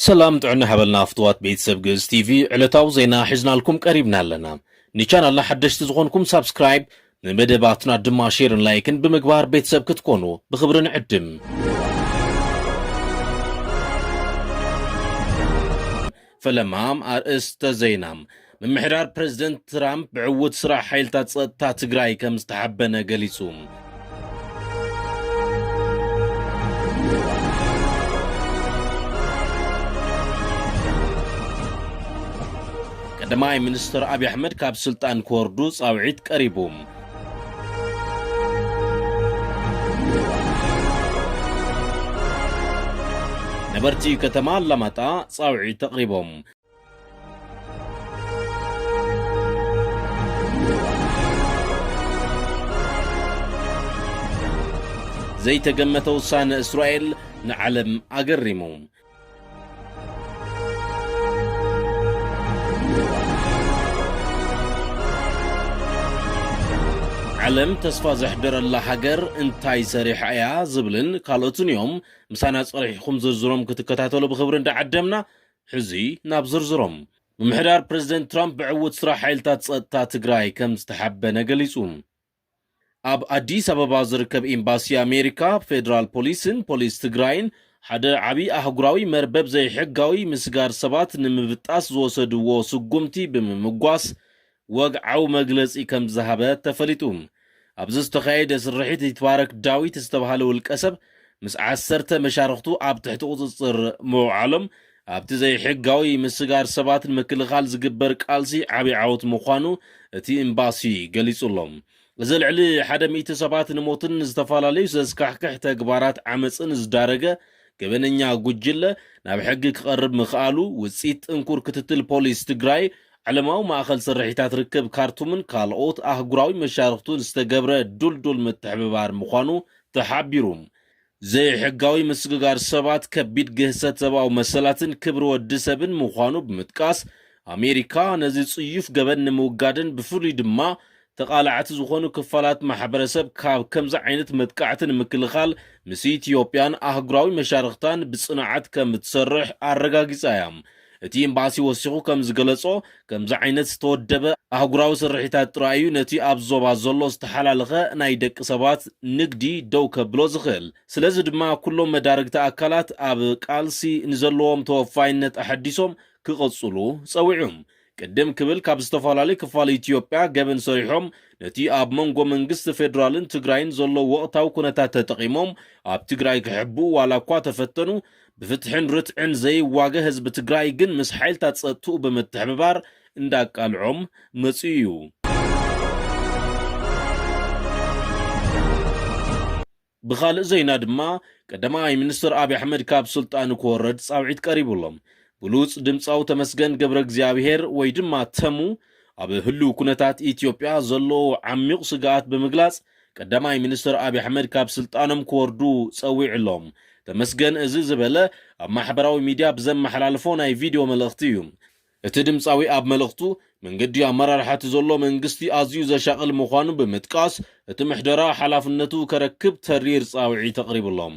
ሰላም ጥዕና ሓበልና ፍትዋት ቤተሰብ ግእዝ ቲቪ ዕለታዊ ዜና ሒዝናልኩም ቀሪብና ኣለና ንቻናልና ሓደሽቲ ዝኾንኩም ሳብስክራይብ ንመደባትና ድማ ሼርን ላይክን ብምግባር ቤተሰብ ክትኮኑ ብኽብሪ ንዕድም። ፈለማ ኣርእስተ ዜና ምምሕዳር ፕረዚደንት ትራምፕ ብዕዉት ስራሕ ሓይልታት ጸጥታ ትግራይ ከም ዝተሓበነ ገሊጹ። ቀዳማይ ሚኒስትር ኣብዪ ኣሕመድ ካብ ስልጣን ክወርዱ ጻውዒት ቀሪቡ። ነበርቲ ከተማ ኣላማጣ ጻውዒት ኣቕሪቦም። ዘይተገመተ ውሳነ እስራኤል ንዓለም ኣገሪሙ። ዓለም ተስፋ ዘሕደረላ ሃገር እንታይ ሰሪሓ እያ ዝብልን ካልኦትን እዮም ምሳና ጸሪሕኹም ዝርዝሮም ክትከታተሉ ብኽብሪ እንዳዓደምና ሕዚ ናብ ዝርዝሮም ምምሕዳር ፕረዚደንት ትራምፕ ብዕውት ስራሕ ሓይልታት ጸጥታ ትግራይ ከም ዝተሓበነ ገሊጹ ኣብ ኣዲስ ኣበባ ዝርከብ ኤምባሲ ኣሜሪካ፣ ፌደራል ፖሊስን ፖሊስ ትግራይን ሓደ ዓብይ ኣህጉራዊ መርበብ ዘይሕጋዊ ምስጋር ሰባት ንምብጣስ ዝወሰድዎ ስጉምቲ ብምምጓስ ወግዓዊ መግለፂ ከምዝሃበ ተፈሊጡ። ኣብዚ ዝተኻየደ ስርሒት ይትባረክ ዳዊት ዝተብሃለ ውልቀሰብ ምስ ዓሰርተ መሻርኽቱ ኣብ ትሕቲ ቁፅፅር ምውዓሎም ኣብቲ ዘይሕጋዊ ምስጋር ሰባት ንምክልኻል ዝግበር ቃልሲ ዓቢ ዓወት ምዃኑ እቲ ኤምባሲ ገሊጹ'ሎ። እዚ ልዕሊ ሓደ ሚእቲ ሰባት ንሞትን ንዝተፈላለዩ ዘስካሕክሕ ተግባራት ዓመጽን ዝዳረገ ገበነኛ ጉጅለ ናብ ሕጊ ክቐርብ ምኽኣሉ ውጽኢት ጥንኩር ክትትል ፖሊስ ትግራይ፣ ዓለማዊ ማእኸል ስርሒታት ርክብ ካርቱምን ካልኦት ኣህጉራዊ መሻርኽቱን ዝተገብረ ድልዱል ምትሕብባር ምዃኑ ተሓቢሩ። ዘይሕጋዊ ምስግጋር ሰባት ከቢድ ግህሰት ሰብኣዊ መሰላትን ክብሪ ወዲ ሰብን ምዃኑ ብምጥቃስ፣ ኣሜሪካ ነዚ ጽዩፍ ገበን ንምውጋድን ብፍሉይ ድማ ተቓላዕቲ ዝኾኑ ክፋላት ማሕበረሰብ ካብ ከምዚ ዓይነት መጥቃዕቲ ንምክልኻል ምስ ኢትዮጵያን ኣህጉራዊ መሻርኽታን ብጽንዓት ከምትሰርሕ ኣረጋጊጻ እያ። እቲ ኤምባሲ ወሲኹ ከም ዝገለጾ፣ ከምዚ ዓይነት ዝተወደበ ኣህጉራዊ ስርሒታት ጥራይ እዩ ነቲ ኣብዚ ዞባ ዘሎ ዝተሓላለኸ ናይ ደቂ ሰባት ንግዲ ደው ከብሎ ዝኽእል። ስለዚ ድማ ኩሎም መዳርግቲ ኣካላት ኣብ ቃልሲ ንዘለዎም ተወፋይነት ኣሐዲሶም ክቕጽሉ ጸዊዑ። ቅድም ክብል ካብ ዝተፈላለዩ ክፋል ኢትዮጵያ ገበን ሰሪሖም ነቲ ኣብ መንጎ መንግስቲ ፌደራልን ትግራይን ዘሎ ወቕታዊ ኩነታት ተጠቒሞም ኣብ ትግራይ ክሕብኡ ዋላ እኳ ተፈተኑ ብፍትሕን ርትዕን ዘይዋገ ህዝቢ ትግራይ ግን ምስ ሓይልታት ጸጥትኡ ብምትሕብባር እንዳቃልዖም መጺኡ እዩ። ብኻልእ ዜና ድማ ቀዳማይ ሚኒስትር ኣብይ ኣሕመድ ካብ ስልጣኑ ክወረድ ጻውዒት ቀሪቡሎም ብሉጽ ድምጻዊ ተመስገን ገብረ እግዚኣብሔር ወይ ድማ ተሙ ኣብ ህሉው ኩነታት ኢትዮጵያ ዘለዎ ዓሚቕ ስግኣት ብምግላጽ ቀዳማይ ሚኒስትር ኣብይ ኣሕመድ ካብ ስልጣኖም ክወርዱ ጸዊዑሎም። ተመስገን እዚ ዝበለ ኣብ ማሕበራዊ ሚድያ ብዘመሓላለፎ ናይ ቪድዮ መልእኽቲ እዩ። እቲ ድምጻዊ ኣብ መልእኽቱ፣ መንገዲ ኣመራርሓ እቲ ዘሎ መንግስቲ ኣዝዩ ዘሻቕል ምዃኑ ብምጥቃስ፣ እቲ ምሕደራ ሓላፍነቱ ከረክብ ተሪር ጻውዒት ኣቕሪቡሎም።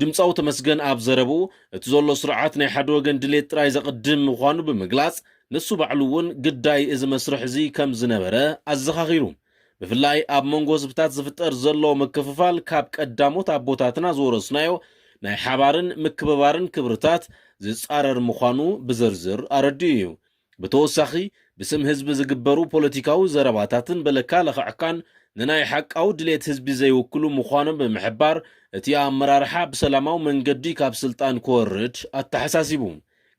ድምጻዊ ተመስገን ኣብ ዘረብኡ፣ እቲ ዘሎ ስርዓት ናይ ሓደ ወገን ድሌት ጥራይ ዘቕድም ምዃኑ ብምግላጽ፣ ንሱ ባዕሉ እውን ግዳይ እዚ መስርሕ እዚ ከም ዝነበረ ኣዘኻኺሩ። ብፍላይ ኣብ መንጎ ህዝብታት ዝፍጠር ዘሎ ምክፍፋል ካብ ቀዳሞት ኣቦታትና ዝወረስናዮ ናይ ሓባርን ምክብባርን ክብርታት ዝጻረር ምዃኑ ብዝርዝር ኣረዲኡ እዩ። ብተወሳኺ ብስም ህዝቢ ዝግበሩ ፖለቲካዊ ዘረባታትን በለካ ለኽዕካን ንናይ ሓቃዊ ድሌት ህዝቢ ዘይውክሉ ምዃኖም ብምሕባር እቲ ኣመራርሓ ብሰላማዊ መንገዲ ካብ ስልጣን ክወርድ ኣተሓሳሲቡ።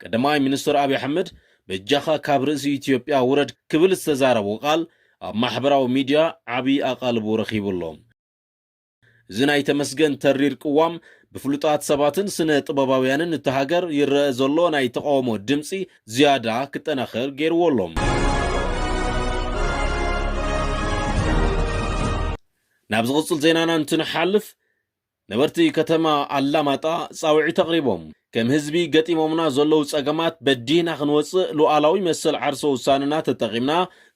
ቀዳማይ ሚኒስትር ኣብይ ኣሕመድ በጃኻ ካብ ርእሲ ኢትዮጵያ ውረድ ክብል ዝተዛረቦ ቃል ኣብ ማሕበራዊ ሚዲያ ዓብዪ ኣቓልቦ ረኺቡ ኣሎ። እዚ ናይ ተመስገን ተሪር ቅዋም ብፍሉጣት ሰባትን ስነ ጥበባውያንን እታ ሃገር ይረአ ዘሎ ናይ ተቓውሞ ድምጺ ዝያዳ ክጠናኸር ገይርዎ ኣሎ። ናብ ዝቕጽል ዜናና እንትንሓልፍ ነበርቲ ከተማ ኣላማጣ ጻውዒት ኣቕሪቦም ከም ህዝቢ ገጢሞምና ዘለዉ ጸገማት በዲህና ክንወጽእ ሉዓላዊ መሰል ዓርሰ ውሳነና ተጠቒምና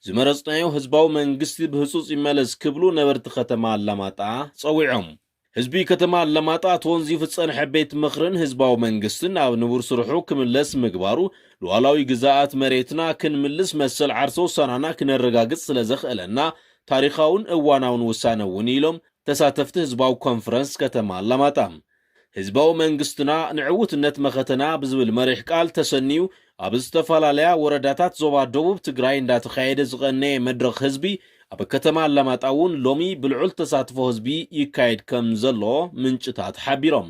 ዝመረፅናዮ ህዝባዊ መንግስቲ ብህፁፅ ይመለስ ክብሉ ነበርቲ ከተማ ኣላማጣ ፀዊዖም። ህዝቢ ከተማ ኣላማጣ ተወንዚፉ ዝፀንሐ ቤት ምኽርን ህዝባዊ መንግስትን ናብ ንቡር ስርሑ ክምለስ ምግባሩ ሉኣላዊ ግዛኣት መሬትና ክንምልስ መሰል ዓርሰ ውሳናና ክነረጋግፅ ስለዘኽእለና ታሪኻውን እዋናውን ውሳነ እውን ኢሎም ተሳተፍቲ ህዝባዊ ኮንፈረንስ ከተማ ኣላማጣ። ህዝባዊ መንግስትና ንዕውትነት መኸተና ብዝብል መሪሕ ቃል ተሰንዩ ኣብ ዝተፈላለያ ወረዳታት ዞባ ደቡብ ትግራይ እንዳተኻየደ ዝቐነየ መድረኽ ህዝቢ ኣብ ከተማ ኣላማጣ እውን ሎሚ ብልዑል ተሳትፎ ህዝቢ ይካየድ ከም ዘሎ ምንጭታት ሓቢሮም።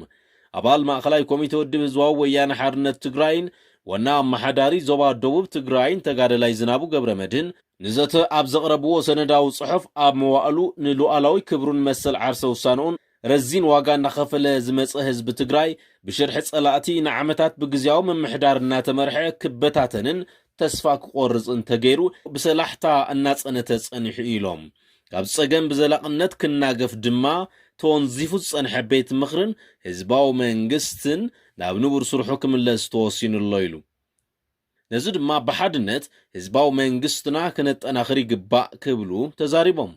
ኣባል ማእኸላይ ኮሚቴ ውድብ ህዝባዊ ወያነ ሓርነት ትግራይን ዋና ኣማሓዳሪ ዞባ ደቡብ ትግራይን ተጋደላይ ዝናቡ ገብረመድህን ንዘተ ኣብ ዘቕረብዎ ሰነዳዊ ፅሑፍ ኣብ መዋእሉ ንሉኣላዊ ክብሩን መሰል ዓርሰ ውሳነኡን ረዚን ዋጋ እናኸፈለ ዝመፀ ህዝቢ ትግራይ ብሽርሒ ፀላእቲ ንዓመታት ብግዝያዊ ምምሕዳር እናተመርሐ ክበታተንን ተስፋ ክቖርፅን ተገይሩ ብሰላሕታ እናፀነተ ፀኒሑ እዩ ኢሎም። ካብ ፀገም ብዘላቕነት ክናገፍ ድማ ተወንዚፉ ዝፀንሐ ቤት ምኽርን ህዝባዊ መንግስትን ናብ ንቡር ስርሑ ክምለስ ተወሲኑ ኣሎ ኢሉ። ነዚ ድማ ብሓድነት ህዝባዊ መንግስትና ክነጠናኽር ይግባእ ክብሉ ተዛሪቦም።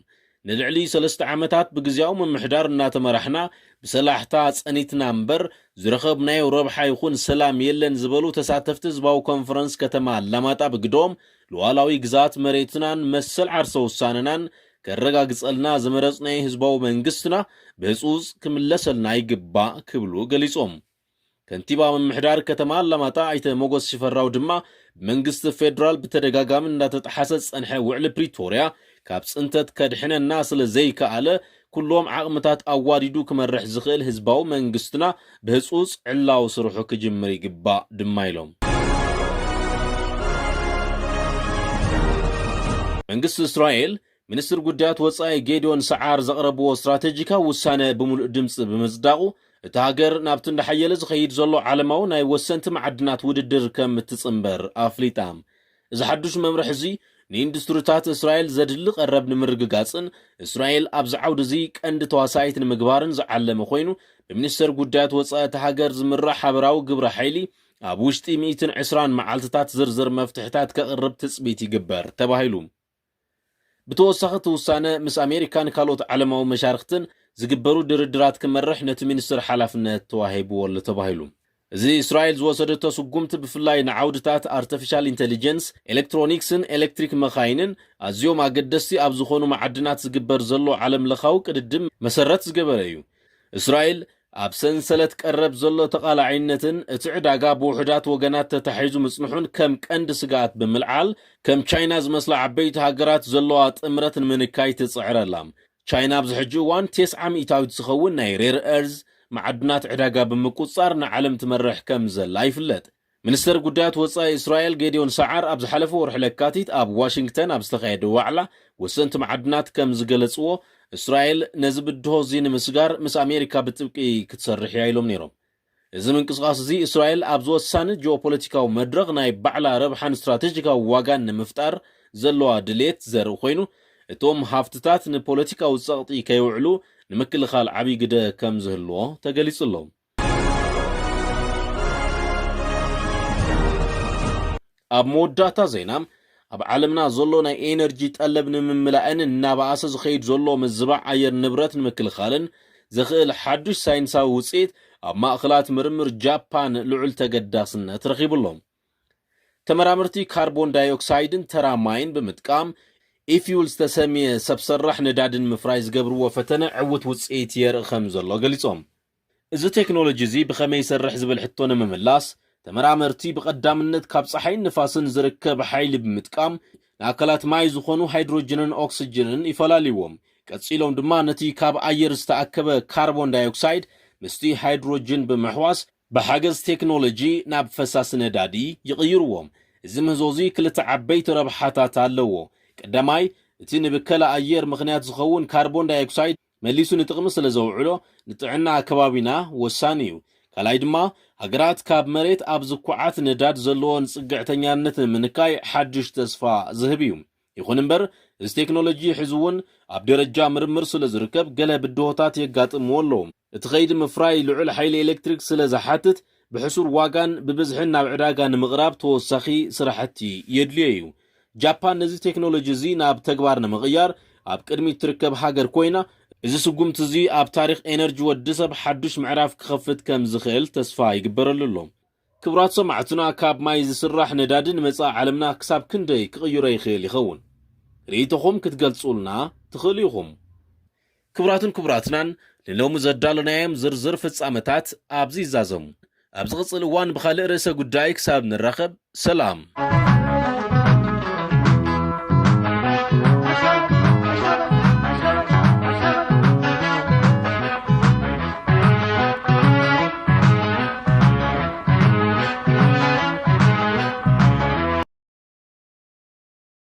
ንልዕሊ ሰለስተ ዓመታት ብግዝያዊ ምምሕዳር እናተመራሕና ብሰላሕታ ፀኒትና እምበር ዝረኸብናዮ ረብሓ ይኹን ሰላም የለን ዝበሉ ተሳተፍቲ ህዝባዊ ኮንፈረንስ ከተማ ኣላማጣ ብግደኦም፣ ሉኣላዊ ግዝኣት መሬትናን መሰል ዓርሰ ውሳነናን ከረጋግፀልና ዝመረፅናዮ ህዝባዊ መንግስትና ብህፁፅ ክምለሰልና ይግባእ ክብሉ ገሊፆም። ከንቲባ ምምሕዳር ከተማ ኣላማጣ ኣይተ ሞጎስ ሽፈራው ድማ ብመንግስቲ ፌዴራል ብተደጋጋሚ እንዳተጠሓሰ ዝፀንሐ ውዕሊ ፕሪቶርያ ካብ ፅንተት ከድሕነና ስለ ዘይከኣለ ኩሎም ዓቕምታት ኣዋዲዱ ክመርሕ ዝኽእል ህዝባዊ መንግስትና ብህፁፅ ዕላዊ ስርሑ ክጅምር ይግባእ ድማ ኢሎም። መንግስቲ እስራኤል ሚኒስትር ጉዳያት ወጻኢ ጌዲዮን ሰዓር ዘቕረብዎ ስትራቴጂካዊ ውሳነ ብምሉእ ድምጺ ብምጽዳቑ፣ እታ ሃገር ናብቲ እንዳሓየለ ዝኸይድ ዘሎ ዓለማዊ ናይ ወሰንቲ መዓድናት ውድድር ከም እትጽንበር ኣፍሊጣ። እዚ ሓዱሽ መምርሕ'ዚ፣ ንኢንዱስትሪታት እስራኤል ዘድሊ ቀረብ ንምርግጋጽን እስራኤል ኣብዚ ዓውዲ'ዚ ቀንዲ ተዋሳኢት ንምግባርን ዝዓለመ ኮይኑ፣ ብሚኒስተር ጉዳያት ወጻኢ እታ ሃገር ዝምራሕ ሓበራዊ ግብረ ሓይሊ ኣብ ውሽጢ ሚእትን ዕስራን መዓልቲታት ዝርዝር መፍትሕታት ከቕርብ ትጽቢት ይግበር ተባሂሉ። ብተወሳኺ እቲ ውሳነ ምስ ኣሜሪካን ካልኦት ዓለማዊ መሻርኽትን ዝግበሩ ድርድራት ክመርሕ ነቲ ሚኒስትር ሓላፍነት ተዋሂብዎ'ሎ ተባሂሉ። እዚ እስራኤል ዝወሰደቶ ስጉምቲ ብፍላይ ንዓውድታት ኣርተፊሻል ኢንተሊጀንስ፣ ኤለክትሮኒክስን ኤለክትሪክ መኻይንን ኣዝዮም ኣገደስቲ ኣብ ዝኾኑ መዓድናት ዝግበር ዘሎ ዓለምለኻዊ ቅድድም መሰረት ዝገበረ እዩ። እስራኤል ኣብ ሰንሰለት ቀረብ ዘሎ ተቓላዒነትን እቲ ዕዳጋ ብውሑዳት ወገናት ተታሒዙ ምጽንሑን ከም ቀንዲ ስግኣት ብምልዓል፣ ከም ቻይና ዝመስላ ዓበይቲ ሃገራት ዘለዋ ጥምረት ንምንካይ ትጽዕር ኣላ። ቻይና ኣብዚ ሕጂ እዋን ቴስዓ ሚእታዊት ዝኸውን ናይ ሬር-ኤርዝ መዓድናት ዕዳጋ ብምቁጽጻር ንዓለም ትመርሕ ከም ዘላ ይፍለጥ። ሚኒስተር ጉዳያት ወጻኢ እስራኤል ጌድዮን ሰዓር ኣብ ዝሓለፈ ወርሒ ለካቲት ኣብ ዋሽንግተን ኣብ ዝተኻየደ ዋዕላ ወሰንቲ መዓድናት ከም ዝገለጽዎ፣ እስራኤል ነዚ ብድሆ እዚ ንምስጋር ምስ ኣሜሪካ ብጥብቂ ክትሰርሕ እያ ኢሎም ነይሮም። እዚ ምንቅስቓስ እዚ እስራኤል ኣብዚ ወሳኒ ጂኦፖለቲካዊ መድረኽ ናይ ባዕላ ረብሓን ስትራተጂካዊ ዋጋን ንምፍጣር ዘለዋ ድሌት ዘርኢ ኮይኑ፣ እቶም ሃፍትታት ንፖለቲካዊ ጸቕጢ ከይውዕሉ ንምክልኻል ዓብዪ ግደ ከም ዝህልዎ ተገሊጹ ኣሎ። ኣብ መወዳእታ ዜና ኣብ ዓለምና ዘሎ ናይ ኤነርጂ ጠለብ ንምምላእን እናበኣሰ ዝኸይድ ዘሎ ምዝባዕ ኣየር ንብረት ንምክልኻልን ዘኽእል ሓዱሽ ሳይንሳዊ ውፅኢት ኣብ ማእኽላት ምርምር ጃፓን ልዑል ተገዳስነት ረኺቡ ኣሎ። ተመራመርቲ ካርቦን ዳይኦክሳይድን ተራ ማይን ብምጥቃም ኢፊውል ዝተሰምየ ሰብ ሰራሕ ነዳዲ ንምፍራይ ዝገብርዎ ፈተነ ዕውት ውፅኢት የርኢ ከም ዘሎ ገሊፆም። እዚ ቴክኖሎጂ እዚ ብኸመይ ይሰርሕ ዝብል ሕቶ ንምምላስ፣ ተመራመርቲ ብቐዳምነት ካብ ጸሓይን ንፋስን ዝርከብ ሓይሊ ብምጥቃም ንኣካላት ማይ ዝኾኑ ሃይድሮጅንን ኦክስጅንን ይፈላልይዎም። ቀጺሎም ድማ ነቲ ካብ ኣየር ዝተኣከበ ካርቦን ዳይኦክሳይድ ምስቲ ሃይድሮጅን ብምሕዋስ ብሓገዝ ቴክኖሎጂ ናብ ፈሳሲ ነዳዲ ይቕይርዎም። እዚ ምህዞ እዚ ክልተ ዓበይቲ ረብሓታት ኣለዎ። ቀዳማይ፣ እቲ ንብከላ ኣየር ምኽንያት ዝኸውን ካርቦን ዳይኦክሳይድ መሊሱ ንጥቕሚ ስለ ዘውዕሎ ንጥዕና ከባቢና ወሳኒ እዩ። ካልኣይ ድማ ሃገራት ካብ መሬት ኣብ ዝኩዓት ነዳድ ዘለወን ፅግዕተኛነት ንምንካይ ሓዱሽ ተስፋ ዝህብ እዩ። ይኹን እምበር እዚ ቴክኖሎጂ ሕዚ እውን ኣብ ደረጃ ምርምር ስለ ዝርከብ ገለ ብድሆታት የጋጥምዎ ኣለዉ። እቲ ከይዲ ምፍራይ ልዑል ሓይሊ ኤሌክትሪክ ስለ ዝሓትት ብሕሱር ዋጋን ብብዝሕን ናብ ዕዳጋ ንምቕራብ ተወሳኺ ስራሕቲ የድልዮ እዩ። ጃፓን ነዚ ቴክኖሎጂ እዚ ናብ ተግባር ንምቕያር ኣብ ቅድሚት ትርከብ ሃገር ኮይና፣ እዚ ስጉምቲ እዚ ኣብ ታሪኽ ኤነርጂ ወዲሰብ ሓዱሽ ምዕራፍ ክኸፍት ከም ዝኽእል ተስፋ ይግበረሉ ኣሎ። ክብራት ሰማዕትና ካብ ማይ ዝስራሕ ነዳዲ ንመጻኢ ዓለምና ክሳብ ክንደይ ክቕይሮ ይኽእል ይኸውን? ርእይቶኹም ክትገልጹልና ትኽእሉ ኢኹም። ክቡራትን ክቡራትናን ንሎሚ ዘዳሎናዮም ዝርዝር ፍጻመታት ኣብዚ ይዛዘሙ። ኣብ ዝቕጽል እዋን ብኻልእ ርእሰ ጉዳይ ክሳብ ንራኸብ ሰላም።